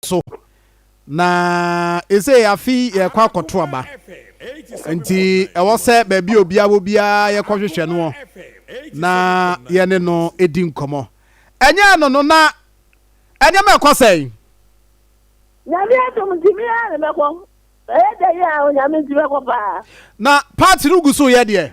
so. Na ese afi yɛkɔ akɔto aba. Nti ɛwɔ sɛ baabi a obiara wɔ biara yɛkɔhwehwɛ noɔ na yɛne no di nkɔmmɔ. Ɛnyɛ ɛno no na nneɛma ɛkɔ sɛn? Nyame adom nti me ara na mɛkɔ. Ɛyɛ dɛ yi a Onyame nti mɛkɔ paa. Na part no gu so yɛ deɛ?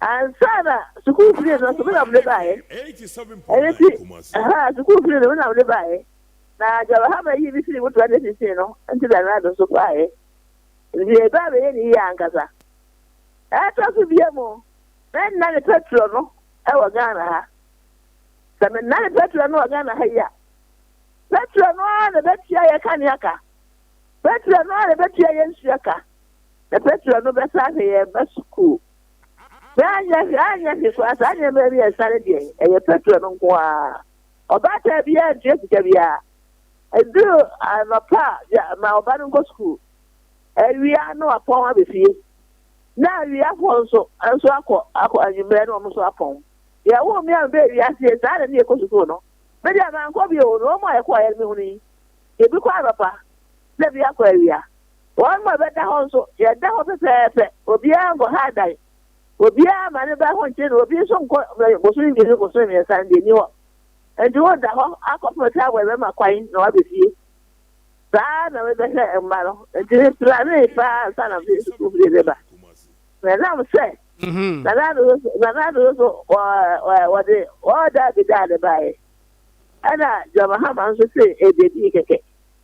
Ansa na sukuu fie no nso, me na mede baeɛ. Ɛno nti, ɛhɔ a sukuu fie no, me na mede baeɛ. Na deɛ Ɔbɛhama yii me firii motoa ne sisii no nti na Nado nso baeɛ. Nti yɛreba abɛyɛ ne yie ankasa. Ɛtɔ so bio mu, mennane pɛtrɔ no wɔ Ghana ha. Sɛ menane pɛtrɔ no wɔ Ghana ha yi a, pɛtrɔ no ara na ɛbɛtua yɛn kanea ka. Pɛtrɔ no ara na ɛbɛtua yɛn nsuo ka. Na pɛtrɔ no bɛsan ahwɛ yɛn mma sukuu. Yɛanyɛ hwee, anyɛ hwee koraa, saa nneɛma yi yɛ sare deɛ, ɛyɛ petrol no nko ara. Ɔbaatan biara ntua sika biara. Ɛduru anɔpa a, yɛ ma ɔba no nkɔ sukuu. Awia na wapɔn aba fie. Na awia hɔ nso, nso akɔ, akɔ anwummerɛ na wɔn nso apɔn. Yɛwoo me a mebɛɛ wiase yɛ saa na ne yɛkɔ sukuu no. Me deɛ mankɔ bio, na wɔn a yɛkɔeɛ no mehunu yi. Ebi kɔ anɔpa, na ebi akɔ awia. Wɔn mma bɛda hɔ nso, yɛda hɔ pɛpɛɛpɛ, obiara nkɔha dan, obiara mma ne ba ho nkye na obi nso nkɔ bosome mmienu, bosome mmiɛnsa no deɛ nni hɔ. Enti woda hɔ akɔpem sɛ awɔ bɛma kwan na woaba fie. Saa ara na mebɛhwɛ mma no, enti me planee paa ansa na mede sukuu fie bɛba. Na ɛnam sɛ Nana Ado nso, Nana Ado nso wɔde ɔɔdaa bi daa no baeɛ, ɛna John Mahama nso tee ɛdeɛ dii kɛkɛ.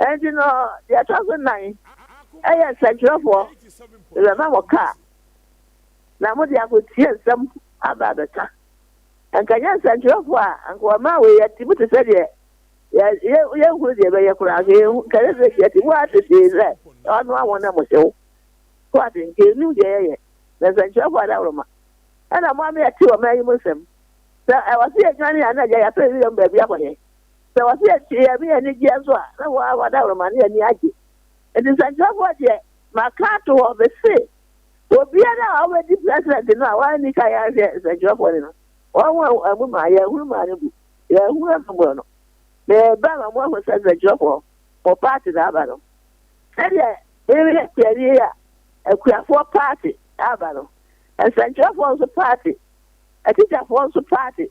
Enti no, deɛ ɛtɔ so nnan yɛ nsɛnkyerɛfoɔ, yɛbɛma mo kaa, na mode akɔtie nsɛm aba abɛka. Anka ɛnyɛ nsɛnkyerɛfoɔ a, anka wɔmaa wei atim te sɛ deɛ yɛnhunu deɛ ɛbɛyɛ koraa, anka yɛnhu, anka ɛyɛ sɛ yɛte mu ara tetee sɛ ɔnoa wɔn na mohyew. So ate, anka yɛnnim deɛ yɛyɛ, na nsɛnkyerɛfoɔ adaworoma. Ɛna mo a moyɛ te ɔman yi mu nsɛm, sɛ ɛwɔ sɛ yɛdwane a, na agya yɛapɛ wiram baabi akɔyɛ. Sɛ wɔse yɛte Nyame anigyeɛ nso a, na wɔn a wɔda hɔ no ma ne ani agye. Enti nsɛnkyerɛfoɔ deɛ, maka ato hɔ, mese, obiara a ɔbɛdi President no a wanni kan anhwɛ nsɛnkyerɛfoɔ no no, wɔn a wɔammu maa yɛahunu maa no bu, yɛahunu ahummorɔ no. Mereba ma moahunu sɛ nsɛnkyerɛfoɔ, mo party na aba no. Sɛdeɛ mereyɛ kuani yi a, akuafoɔ party aba no, nsɛnkyerɛfoɔ nso party, atikyafoɔ nso party.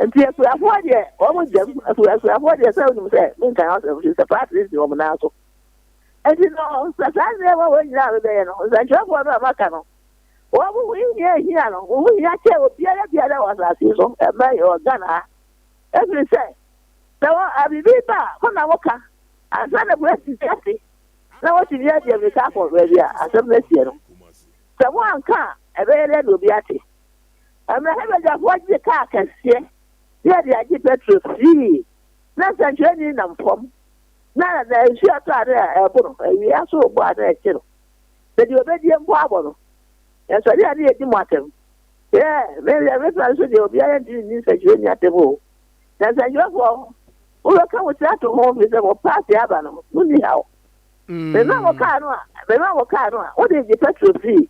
nti akuafoɔ deɛ wɔn gyam akuafoɔ deɛ sɛ wonim sɛ menka ho asɛm hwɛ sɛ paatiri si wɔn nan so nti no sɛ saa nneɛma wɔn nyinaa mebɛyɛ no nsɛnkyerɛfoɔ no a maka no wɔn ho hia hia no wɔn ho hia kyɛ obiara biara wɔ asase so ɛmɛ yɛ wɔ Ghana ha ɛfiri sɛ sɛ wɔ abibi ba a mo na mo ka ansa na polisi ti ase na wɔtumi adi amika akɔ baabi a asɛm no asie no sɛ mo anka a ɛbɛyɛ dɛ na obi ate Mmerɛhɛ badwafoɔ gye kaa kɛseɛ ne yɛde agye pɛtro firii na nsɛnkyerɛnii nam fam na na nsuo a ɛtɔ a na ɛbo no awie aso rebo a na ɛkye no sɛ deɛ ɔbɛdie mpo abɔ no ɛsɔre a na yɛdi mo atɛm yɛ meyɛ mɛtena nso deɛ obiara ntimi nni nsɛnkyerɛnii atɛm o na nsɛnkyerɛfoɔ mobɛka mo tira to ho fi sɛ mo paase aba no mo nni haw mema mo kaa no a mema mo kaa no a wode gye pɛtro firii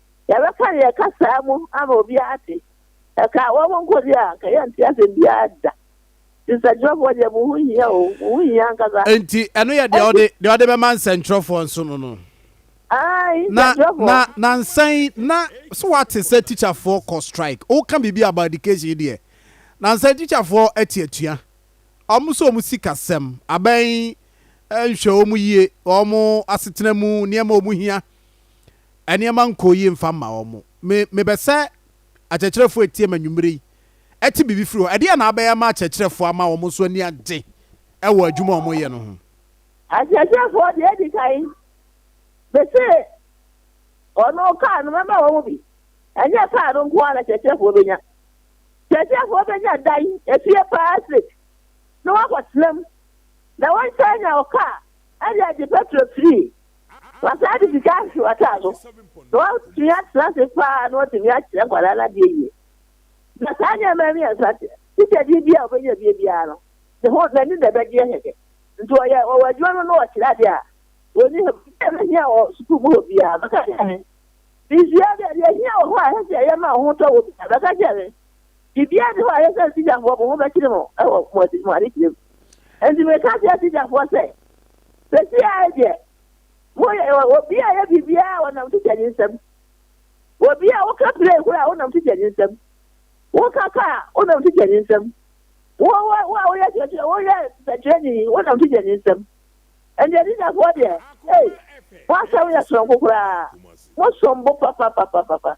Yɛbɛka yɛn kasaa mu ama obiara ate. Ɛkaa wɔn nko deɛ a, anka yɛnte asɛm biara da. Nti nsɛnkyerɛfoɔ deɛ mo ho hia o, mo ho hia ankasa. Nti ɛno yɛ deɛ ɔde deɛ ɔde bɛma nsɛnkyerɛfoɔ nso no no. Ae, nsɛnkyerɛfoɔ. Na na na nsan yi na so wate sɛ tikyafoɔ kɔ strike. Woka biribi about education yi deɛ. Na nsan tikyafoɔ ate atua. Wɔn nso wɔn sikasɛm abɛn nhwɛ wɔn yie, wɔn asetena mu nneɛma wɔn hia. nneɛma nkɔɔ yie mfa mma wɔn. Me, mebɛ sɛ akyerɛkyerɛfoɔ a ɛteam anwumerɛ yi te biribi firi hɔ. Ɛdeɛn na abɛyɛ ama akyerɛkyerɛfoɔ ama wɔn nso ani agye wɔ adwuma a wɔyɛ no ho? Akyerɛkyerɛfoɔ deɛ ɛdi kan, me se wɔn kaa no mɛma wɔn bi. Ɛnyɛ kaa no nko ara na akyerɛkyerɛfoɔ bɛnya. Akyerɛkyerɛfoɔ bɛnya dan, efie paa estate, na wɔakɔtena mu. Na wɔnsan nya ɔkaa de agye pɛtro afiri Wasan de sika ahyehyɛ w'ataa so, na watumi atena ase paa na watumi akyerɛ nkwadaa no adeɛ yie. Na saa nneɛma mmiɛnsa sikadeɛ bi a ɔbɛnya bie biara no, ne ho n'ani na ɛbɛgyeɛ kɛkɛ. Nti ɔyɛ ɔwɔ adwuma no na ɔkyerɛ adeɛ a, ɔni hɔ bi a ɛbɛhia wɔ sukuu mu hɔ biara, bɛka kyerɛ me. Mesua adeɛ a deɛ ɛhia wɔ hɔ a ɛsɛ sɛ yɛma ho tɔ wɔ biara, bɛka kyerɛ me. Biribiara nni hɔ a ɛyɛ sɛ Siriafoɔ mo ho bɛkyere mo wɔ mo ade mo adekyerɛ mu. Enti mereka akyerɛ Siriafoɔ sɛ, Seesei ara yi deɛ, moyɛ obi a ɛyɛ biribiara a wɔnam twitwa ne nsam, obi a woka plane kora a wonam twitwa ne nsam, woka kaa a wonam twitwa ne nsam, wo a woyɛ kyerɛkyerɛ woyɛ sɛkyerɛni wonam twitwa ne nsam. Ɛnti Siriafoɔ deɛ, ei, mo asɛm yɛ soronko koraa, mosom bo papapapapa.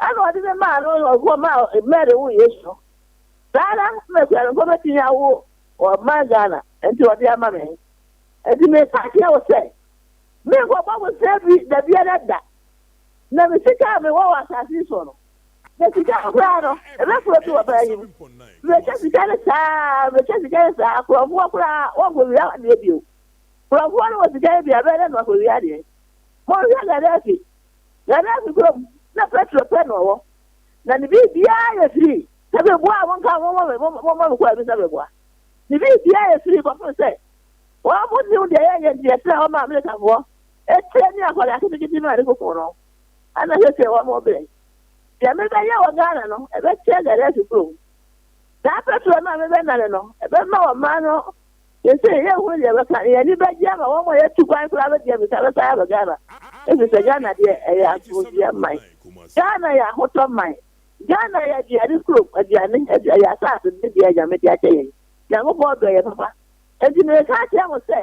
ɛna ɔde no maa no na ɔbɔ maa Mary woo Yesu no. Saa ara na akuanimfo betumi awo ɔma Ghana, enti ɔde ama me. Enti meka akyerɛ wo sɛ, menkɔbɔ bosea bi da biara da, na me sika a mewɔ wɔ asase yi so no, na sika no koraa no, ɛbɛforo afi ɔbaa yi mu. Merekyɛ sika no saa ara, merekyɛ sika no saa ara, korɔmfoɔ koraa, wɔnkɔwia adeɛ bio. Korɔmfoɔ no wɔ sika no bi a, ɛbɛyɛ dɛ na wakɔwia adeɛ. Monhwɛ Gaddafi. Gerase kuro mu na Petro pɛ na ɔwɔ, na ne biribiara yɛ firii sɛ bɛboa a monka mommɔ me, mommɔ me kɔ anim sɛ meboa. Ne biribiara yɛ firii kɔpem sɛ wɔn mo nnim deɛ yɛyɛ nti yɛtena hɔ ma Amalekafoɔ atie ne akɔre aketekete no a ɛde kukum no, ɛna seesei wɔn mo brɛ. Deɛ mebɛyɛ wɔ Ghana no ɛbɛkyɛ Gerase kuro mu. Saa Petro no a mebɛnane no ɛbɛma wɔn mmaa no Seesei yɛn ho deɛ bɛka yɛn ani bɛgye ama wɔn a yɛtu kwan koraa bɛdi abisa bɛsan aba Ghana efisɛ Ghana deɛ ɛyɛ asomdwoeɛ man. Ghana yɛ ahotɔ man. Ghana yɛ aduane kurom, aduane, adu, ɛyɛ asase no deɛ Nyame de akyɛ yɛn. Nyankopɔn dɔ yɛn papa. Enti mereka akyerɛ mo sɛ,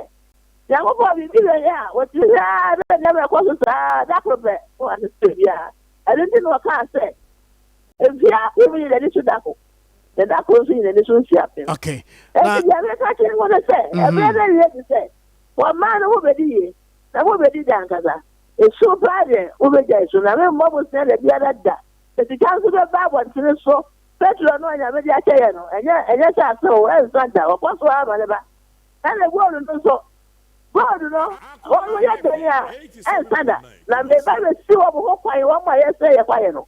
Nyankopɔn biribi bɛyɛ a, wɔtumi hwɛ ara na nneɛma ɛkɔ so saa ara, da koro pɛ, na wɔasesa biribiara. Ɛno nti na wɔkaa sɛ, Mfeɛ apem yɛ n'ani so da ko. na da koro nso yi n'ani so nsi apem. Okay. Na ɛdi yɛn ka kyerɛ wɔn sɛ ɛbɛyɛ dɛ yɛ di sɛ wɔn mmaa no wɔbɛdi yie na wɔbɛdi da ankasa. Esu paa deɛ wɔbɛgya esu na me mmɔ mo sɛ da biara da. Sika nso bɛba abɔntene so. Petro no a nyame de akyɛ yɛ no ɛnyɛ ɛnyɛ sɛ ase o ɛnsa da wɔkɔ so ara ma ne ba. Ɛna gold no nso gold no wɔn yɛ dɛn a ɛnsa da na meba bɛsi wɔn ho kwan wɔn a yɛsɛ yɛ kwan no.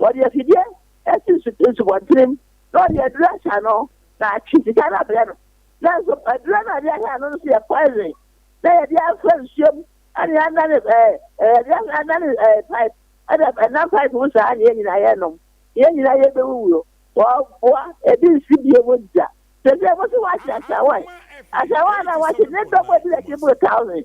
Wɔde afidie asi nsubɔntenem na wɔde aduro ahyɛ ano na atwe sika no abrɛ no. Nanso aduro no a wɔde ahyɛ ano no nso yɛ poison na wɔde afra nsuo mu ne anane ɛɛ wɔde anane ɛɛ pipe ɛna ɛnam pipe mu saa na yɛn nyinaa yɛnom. Yɛn nyinaa yɛbɛwuwuo. Wɔboa ebi nsi bie mu da. Sɛsɛ mo so wɔahye asawa yi. Asawa no a wɔahye ne dɔm a ɛdi n'akyi boro thousand.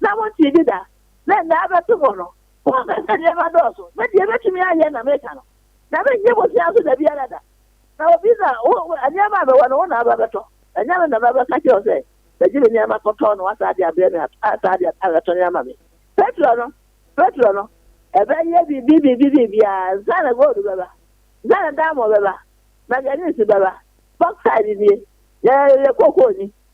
na wontie gye da, na nna abɛto hɔ no, wɔmpɛ sɛ nneɛma dɔɔso, na deɛ mɛtumi ayɛ na meka no, na menyɛ bosea nso dabiara da. Na obi na wo, wo, nneɛma a mewɔ no wo na aba abɛtɔ, ɛnyɛ me na mɛbɛka kyerɛ wo sɛ, bɛgye me nneɛma kɔtɔɔ na woasan de abrɛ me a, ansa de abɛtɔn ama me. Petro no, Petro no, ɛbɛyɛ biribi, biribi, biribiara, ansa na gold bɛba, ansa na diamond bɛba, manganese bɛba, bauxite nie, yɛ, yɛ cocoa ni,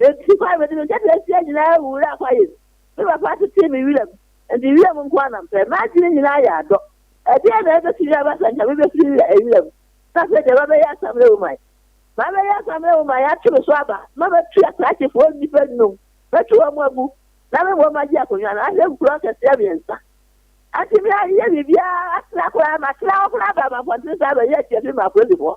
Enti kwae mede me nketeasia nyinaa wuraa kwae mu. Me papa tetee me wiram, enti wiram nko ara na mepɛ. M'adwene nyinaa yɛ adɔ. Ɛdeɛn na ɛbɛtumi aba sɛ anka mebɛfiri wiram na afei deɛ mabɛyɛ asamena woman? Mabɛyɛ asamena woman, yɛatwe me so aba, na matu asraakyefoɔ nnipa nnum, matu wɔn agu, na me mmom magye akonnwa no ahwɛ nkuro akɛseɛ mmiɛnsa. Antumi anyɛ biribiara, matena koraa, matena hɔ koraa baa mampɔntene saa bɛyɛɛ tiafi maa apolisifoɔ.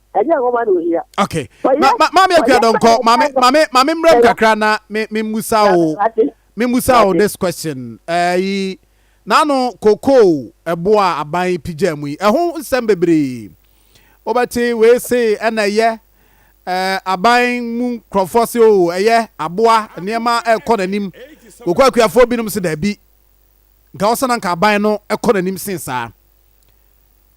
ɛnyɛ nwoma na ohia. okay ma ma maame akua dɔnkɔ maame maame maame mmerɛ mu kakra na me me musa o me musa o this question ɛyi n'ano kokoo ɛbo a aban pigya mu yi ɛho nsɛm bebree wɔbɛte wei se ɛna ɛyɛ ɛɛ aban mu nkurɔfoɔ se o ɛyɛ aboa nneɛma ɛkɔ n'anim kokoo akuafoɔ binom se daabi nka ɔsɛ na nka aban no ɛkɔ n'anim sen saa.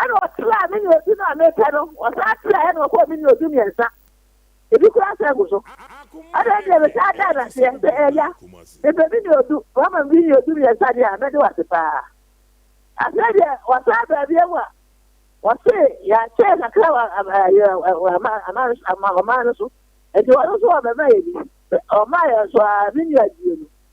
Ɛnna ɔsraa me ne odu no a mepɛ no, ɔsan srɛɛ ɛnna ɔkɔɔ me ne odu mmiɛnsa. Ebi koraa san gu so. Ɛnna ɛnneɛ metaa daa no aseɛ sɛ, Agya, mepɛ me ne odu, woama me me ne odu mmiɛnsa deɛ a, mɛde wo ase pa ara. Afei deɛ ɔsan baa biom a, ɔse yɛakyɛ kakra wɔ ɔman no so, nti ɔno nso ɔbɛma yɛ bi. Ɔmaa yɛn nso a, me nua gyee mu.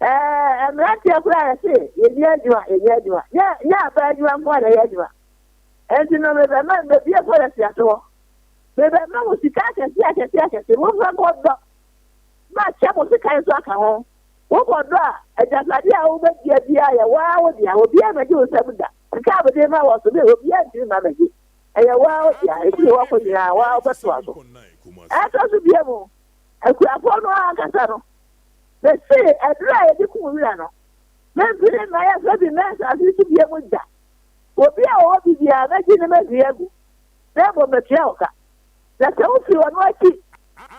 Ɛɛ mmeranteɛ koraa yɛse yɛni adwuma yɛnyɛ adwuma nyɛ nyɛ abaa adwuma nko a na ɛyɛ adwuma ɛnti no mebɛma mbɛbie pɔlɛsi ase hɔ mebɛma mo sika akɛse akɛse akɛse momfɛ nkɔ dɔ makyɛ mo sekan nso aka ho wokɔ dɔ a agyapadeɛ a wobɛdua biara yɛ waa wo dea obiara mɛgye wo nsam da sika a mede ma wɔ so me obiara ntumi ma mɛgye ɛyɛ waa wo dea ɛfiri hɔ kɔ nyinaa waa wobɛtoa so ɛtɔ so bia mu akurapɔ no ankasa no Mesee ɛberɛ a yɛde kum wira no, Memfiri ne mmaeɛ fa bi mmɛn asase yi so bio mu da. Obi a ɔwɔ bi biara, mɛgye ne mɛhwie agu, na mmom matua wo ka. Na sɛ wofiri ɔno akyi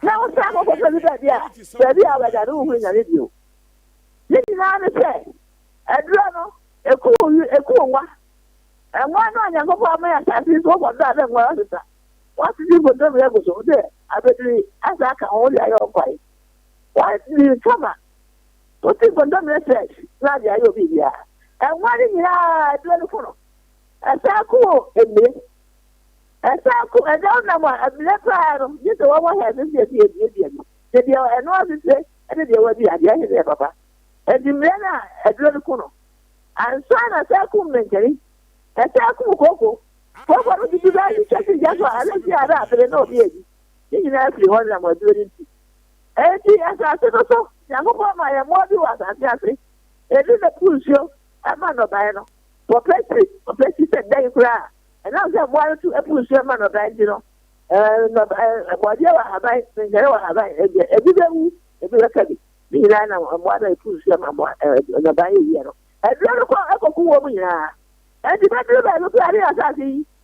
na wosan kɔkɔfa bi baabi a, baabi a wobɛda no wonhunu Nyame bio. Ne nyinaa ne sɛ, aduro no, ɛkum ɛkum nwa. Nwa no a Nyankopɔn amɛn asase yi so wɔ dɔ a na nwa asesa wɔn asese nkontomire agu so, sɛ abɛdiri asa aka ho wode ayɛ wɔn kwae. Once me recover, putting condom ne sex na ade ayɛ obi bia. Ɛnwa ne nyinaa ɛduro no foro. Ɛsan ko wɔ emire. Ɛsan ko ɛda wonam a emire paa no gye sɛ wɔwɔ head no deɛ sɛ yɛduadua bi. Sɛ deɛ ɛno asese ɛne deɛ wadua deɛ ɛhe ne yɛ papa. Ɛnti mmerɛ no a ɛduro no ko no ansa na ɛsan ko mmenkani. Ɛsan ko kooko. Kooko no dudu bɛɛ ne kyɛsi gya so a ɛno nti a na apere na obi adi. Ne nyinaa firi hɔ nam aduro no nti. Enti asase no so Nyankopɔn maa yɛn mmoa bi wɔ asase ase. Ebi bɛpo nsuo ma nnɔbaeɛ no. Wɔpɛ si, wɔpɛ si sɛ dɛn koraa a, ɛnam sɛ mmoa no tu po nsuo ma nnɔbaeɛ nti no, nnɔbaeɛ, bɔdeɛ wɔ ahaban, nkyɛre wɔ ahaban, ɛdeɛ, ebi bɛwu, ebi bɛka bi. Ne nyinaa nam mmoa no a ɛpo nsuo ma mmoa, nnɔbaeɛ yɛ no. Aduro no kɔ kɔko wɔn nyinaa. Enti bɛduru baabi koraa ne asase yi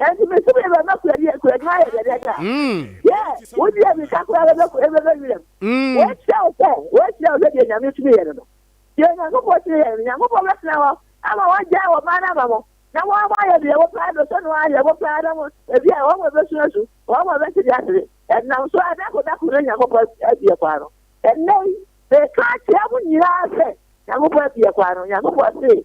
ɛnti me so meyɛ bɛbɛ kuradi kuradi ma yɛ dɛdɛ da yɛ wodi yɛ mika kura bɛbɛ bɛbɛ wiram wɔakyerɛ wo sɛ wɔakyerɛ wo sɛ deɛ nyame tumi yɛ no no deɛ nyankopɔn tumi yɛ no nyankopɔn bɛtena hɔ ama wɔagyae wɔ maa no ama mo na wɔn mo ayɛ deɛ wɔpaa do sɛ no ayɛ wɔpaa na mo ebi a wɔn mo ɛbɛsu asu wɔn mo ɛbɛte de asere ɛnam so adako dako na nyankopɔn abie kwa no ɛnɛ yi meka akyerɛ mo nyinaa sɛ nyankopɔn abie kwa no nyankopɔn se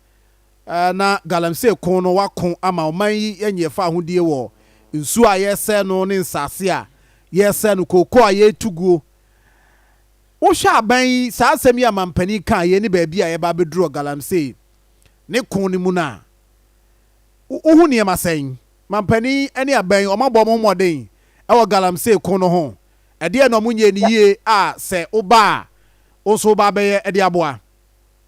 na galamsey ko no wɔako ama ɔman yi anya ɛfa ahodie wɔ nsuo a yɛresɛe no ne nsase a yɛresɛe no, kookoo a yɛretu guo. Wohwɛ aban yi, saa asɛm yi a mampanin kaa yei ne baabi a yɛba abɛduru wɔ galamsey ne ko no mu no a, wohu nneɛma sɛn? Mampanin ne aban yi, wɔabɔ wɔn ho mmɔden wɔ galamsey ko no ho? Ɛdeɛn na wɔnyɛɛ no yie a sɛ woba a, wo nso woba abɛyɛ de aboa?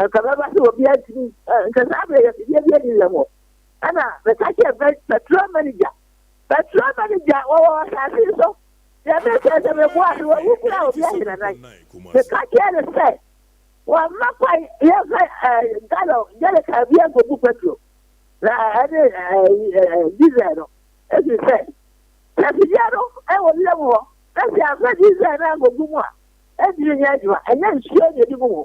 Anka mɛba sɛ obiara ntumi nka saa berɛ yi afidie bi ani yɛ hɔ. Ɛna meka kyerɛ bɛ petrol manager petrol manager wɔwɔ asase yi so deɛ mepɛ sɛ meboa ase wɔwu koraa obi ahenanan meka kyerɛ no sɛ wɔmma kwan yɛmfa ɛɛ gallon gyɛleka bi ankɔgu petrol na ɛne ɛɛ diesel no ɛfiri sɛ sɛ afidie no ɛwɔ wiem hɔ na sɛ yɛamfa diesel no ankɔgu mu a ɛntumi nyɛ adwuma ɛnyɛ nsuo na ɛdi gu mu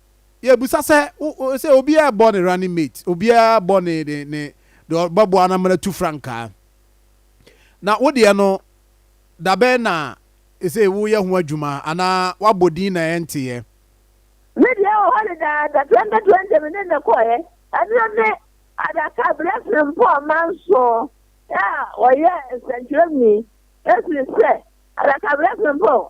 Yɛbisa sɛ sɛ obiara rebɔ ne running mate, obiara rebɔ ne ne ne deɛ ɔbɛboa no amena tu frankaa. Na wo deɛ no, dabɛn na ɛsɛ woyɛ ho adwuma anaa wabɔ din na ɛnteeɛ? Me deɛ wɔ hɔ dedaada 2020 me ne no kɔeɛ. Ɛno ne adaka berɛ Frimpong Amanson a ɔyɛ nsɛnkyerɛwni ɛfiri sɛ adaka berɛ Frimpong.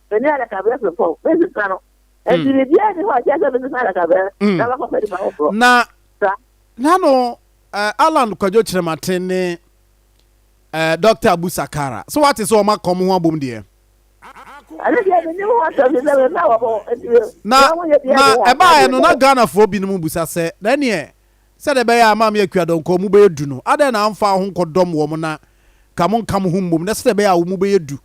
Mene adakabɛn fepɔw, mesesa no. Enti hmm. biribiara nni hɔ a ɛkyerɛ sɛ mesesa adakabɛn hmm. na makɔfa nipa foforɔ. Na na no eh, Alan Kwadwo Kyerɛmaten ne eh, Dr. Abu Sakara. So wate sɛ wɔma kɔm ho abom deɛ? na ɛbaeɛ no na ghanafoɔ binom busa sɛ na ɛneɛ sɛdeɛ ɛbɛyɛ a maame akuadɔnkɔ mu bɛyɛ du no adɛn na amfa ho nkɔdɔm wɔ mo na ka mo nka mo ho mmom na sɛdeɛ ɛbɛyɛ a wo mu bɛyɛ du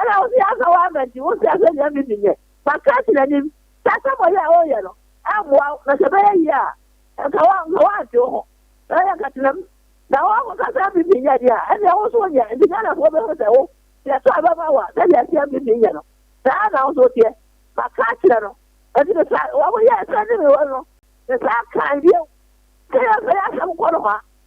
Ɛna wo nso yɛaka w'aba nti wosua sɛ nea me menyɛ maka asi n'anim sɛ asamoayɛ a woreyɛ no ɛmmoa wo na sɛ ɛbɛyɛ yie a nka wo nka woante wo ho na yɛ nka tenam na woakɔka sɛ me menyɛ deɛ a ɛneɛ wo nso wonyɛ nti Ghanafoɔ bɛhu sɛ wo deɛ ɛtɔ a ɛbɛma wo a sɛdeɛ ɛteɛ me menyɛ no saa na wo nso woteɛ maka akyerɛ no ɛti ne saa wɔn yɛ ɛsɛ ne me wɔ no ne saa kan bio sɛ yɛsɛ yɛ asɛm kɔ no hɔ a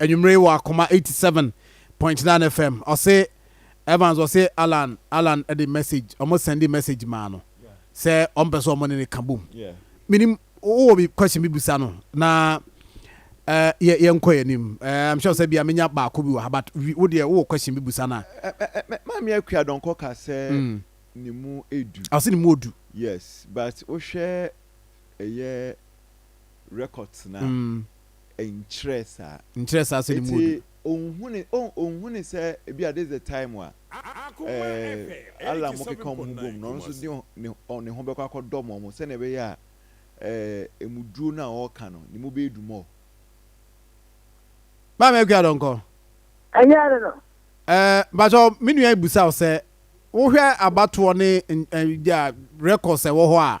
Anwummere yi wɔ Akoma eighty seven point nine FM ɔse Evans ɔse Allan Allan de message ɔmo sɛnde message maa no sɛ ɔmpɛ sɛ ɔmo ne no ka bom menim wowɔ bi question bi bisa no na yɛ yɛnkɔ yɛ anim I'm sure sɛ bia menya baako bi wɔ ha but wo deɛ wowɔ question bi bisa no a Maame Akua Dɔnkɔ ka sɛ ne mu edu ɔse ne mu odu yes but wohwɛ ɛyɛ records no a Nkyerɛɛ saa. Nkyerɛɛ saa sɛ ne mu ɔdu. Eti onhuni oh onhuni sɛ ebi a this is the time a eh Allah mo keka ɔmo ho bom na ɔno nso de ne ne ho bɛkɔ akɔ dɔm ɔmo sɛnea ɛbɛyɛ a eh emu duro no a ɔɔka no ne mu bɛyɛ du more. Maame Akua Donkɔ. Ɛnyɛ ɛno no. Eh mpakyɛw me nua yi busa wo sɛ wohwɛ abatoɔ ne eh records a ɛwɔ hɔ a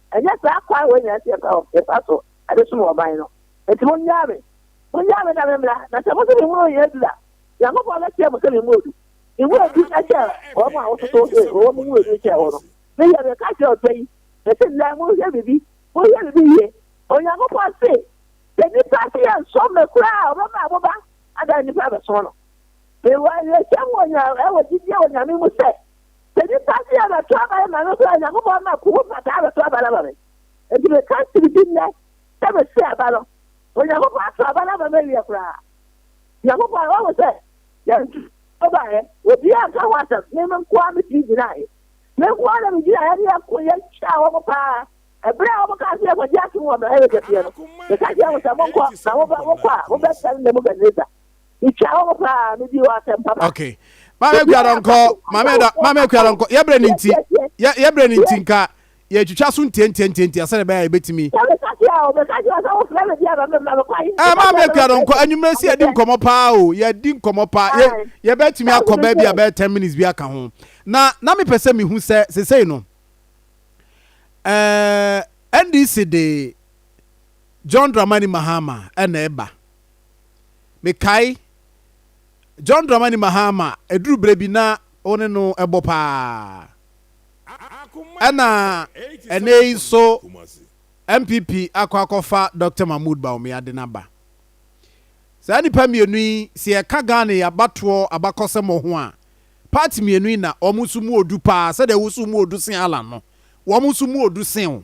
Ɛnyɛ saa akwan wei nyinaa nti na yɛfa so de som ɔman no. Enti monnyaa me. Monnyaa me na memmra, na sɛ mose memmoro nyɛ du a, Nyankopɔn bɛkyerɛ mo sɛ memmoro du. Memmoro du kyɛ wɔn a wototo se wɔwɔ mo mu edu kyɛ wɔn no. Meyɛ me ka kyerɛ ɔsɛ yi, mese nnɛ monhwɛ biribi, monhwɛ biribi yie. Onyankopɔn se, sɛ nnipa se yɛnsom me koraa a, ɔbɛma mo ba adan nnipa abɛsom no. Mewɔ awerɛhyɛm wɔ gyidie wɔ Nyame mu sɛ, Sɛ nipa bi rebɛto aba de ma no nso a, Nyankopɔn ma po ho mpataa bɛto aba no ama me. Enti meka kyere bi nnɛ sɛ mese aba no, Onyankopɔn ato aba no ama me awie koraa. Nyankopɔn, wahu sɛ yɛnto aba baeɛ, obiara anka ho asɛm, me nko ara metumi gyinaeɛ. Me nko ara na megyinaeɛ ne yɛko, yɛtwaa wɔn pa ara. Ɛberɛ a wɔkaa sɛ yɛnkɔgye atom wɔ Amerika fie no, meka kyerɛɛ wɔn sɛ, Monkɔ, na mobɛ, mokɔ a, mobɛsɛe Nebukadnesar. Mekyia wo paa, me di wo asɛm papa. Okay. Maame Kuadɔ nkɔ, maame dɔ, maame Kuadɔ nkɔ. Yɛbrɛ ne nti, yɛ yɛbrɛ ne nti nka yɛtwitwa so ntiantiantiantia sɛdeɛ bɛyɛ a yɛbɛtumi. Ɛɛ maame Kuadɔ nkɔ, anwummerɛ si yɛdi nkɔmmɔ paa o, yɛdi nkɔmmɔ paa, yɛ yɛbɛtumi akɔ baabi a bɛyɛ ten minutes bi aka ho. Na na mepɛ sɛ mehu sɛ sesei no, ɛɛ NDC de John Dramani Mahama ɛna ɛba. Mekae John Dramani Mahama, ɛduru berɛ bi na wo ne no bɔ paa. Ɛna ɛnnɛ yi nso NPP akɔ akɔfa Dɔkta Mahmood Bawumia de no aba. Saa nnipa mmienu yi, sɛ yɛka Ghana yi abatoɔ abakɔsɛmɔ ho a, party mmienu yi na wɔn nso mu odu paa, sɛdeɛ wo nso mu odu sen Allan no, wɔn nso mu odu sen wo.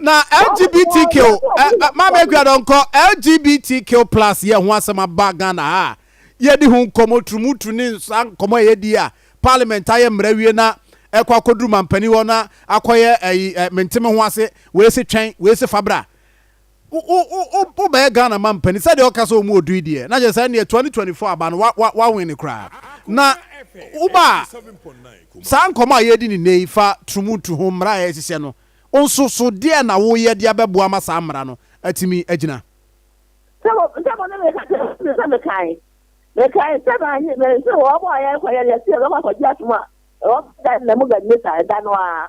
Na LGBTQ, eh, eh, Maame Akua Dɔnkɔ, LGBTQ plus yɛ ho asɛm aba Ghana ha a, yɛdi ho nkɔmmɔ turumuturu ne nsa nkɔmmɔ a yɛdi a, parliament ayɛ mmara wie na ɛkɔ akɔduru mampanin hɔ na akɔyɛ ɛyi ɛ mente me ho ase, wei se twɛn, wei se fabra. Wo bɛyɛ Ghana man panin sɛdeɛ ɔka sɛ ɔmu ɔdui deɛ na kyerɛ sɛ ɛnneɛ 2024 aba no wa win koraa na wo ba a saa nkɔmɔ a yɛdi ne nɛyi fa trumutu ho mmara a yɛhyehyɛ no nso so deɛ na wo yɛ de abɛboa ma saa mmara no atumi agyina. Sɛ wɔ sɛ mo ne me ka kyerɛ me sɛ me kan me kan sɛ ma nye me nso wɔ bɔ a yɛn kɔ yɛ yɛ sɛ yɛbɛkɔ akɔgye asom a ɛwɔ da na mu gadi ne saa ɛda no ara.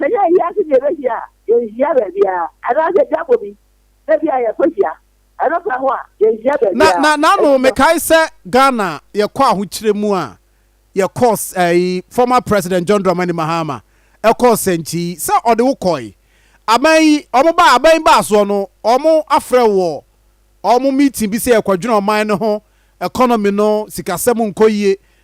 Sɛ yɛn ani agye deɛ ɛbɛhyia a, yɛnhyia baabiara, anaasɛ dwabɔ bi na bi a yɛkɔhyia, ɛno ka ho a, yɛnhyia Na, baabiara. na, n'ano, Ɛfiri sɛ. mekae sɛ Ghana yɛkɔ ahokyerɛ mu a, yɛkɔɔ s, ɛyi, former President John Dramani Mahama, ɛkɔɔ Sɛnkyi, sɛ ɔde wo kɔe. Aban yi, wɔn baa, aban yi baa soɔ no, wɔn afrɛ wo wɔ wɔn meeting bi sɛ yɛkɔdwene ɔman no ho, economy no, sikasɛm nkɔ yie,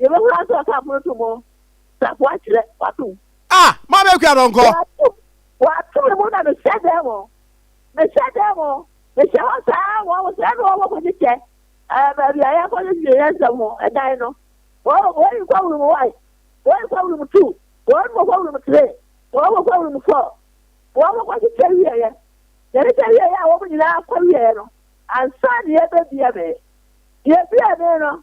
Yɛbɛhu ara sɛ ɔka apono to mu safoa kyerɛ wato mu. A! Mo a moyɛ akuraa dɔnkɔ. Wato, wato me mu na mehyɛ dan mu, mehyɛ dan mu, mehyɛ hɔ saa ara, wɔn sɛɛ na wɔwɔ kɔkyekyɛ ɛɛ baabi a yɛkɔdwedwe yɛn nsɛm ho, ɛdan no. Wɔn, wɔn yi kɔ room one, wɔn yi kɔ room two, wɔn mo kɔ room three, wɔn mo kɔ room four, wɔn mo kɔkyekyɛ wieɛ. Yɛkyekyɛ wieɛ a wɔn nyinaa kɔ wieɛ no, ansa na yɛbɛbie me. Yɛbie me no,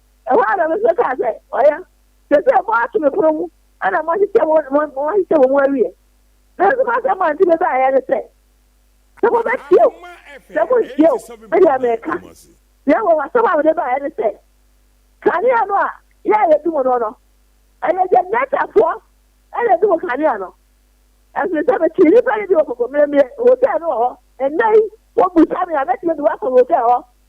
Ɛhɔ ara na me nso kaa sɛ, Ɔyɛ. Seesei moato me pono mu na moahyehyɛ mo ho moahyehyɛ mo ho awie. Nanso m'asɛm a enti mebaeɛ ne sɛ, sɛ mobɛtie oo, sɛ morentie oo, me deɛ mereka. Na mmom asɛm a mede baeɛ ne sɛ, kanea no a yɛn a yɛdi mu no no, ɛyɛ Gentile-foɔ na ɛdi mu kanea no. Ɛfiri sɛ metee nnipa nne bi wɔ Kɔkɔmmerɛmmerɛ Hotel no wɔ hɔ, ɛnnɛ yi wɔbisa me a, mɛtumi de wo akɔ hotel hɔ.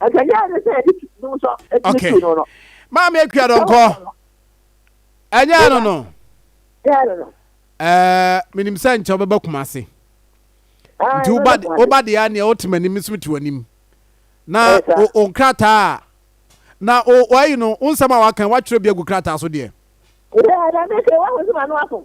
Ɛkɛnyɛ ne sɛ yɛde dum sɔ ɛtumi tu no no. Maame akua dɔnkɔ. Ɛnyɛ no no. Ɛnyɛ no no. Ɛɛ menim sɛ nkyɛw bɛba Kumasi. Ah, Nti woba woba deɛ aneɛ wote m'anim nso te w'anim. Na wo nkrataa na wɔayi no wo nsɛm a waka watwerɛ bi agu krataa so deɛ. Ɛɛ na meke wɔn ahosuo ma no afom.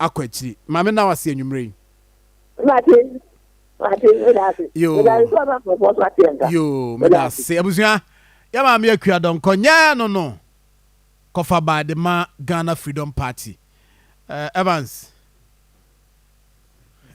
akɔ akyiri. Ma me nna wo ase anwummerɛ yi. Mate, mate, meda ase. Yoo. Meda ase sɛ ɔba nkurɔfoɔ so ate nka. Yoo, meda ase. Abusua, yɛ maame Akua Donkor, nyɛ no no kɔfa ba de ma Ghana Freedom Party. Eh, Evans.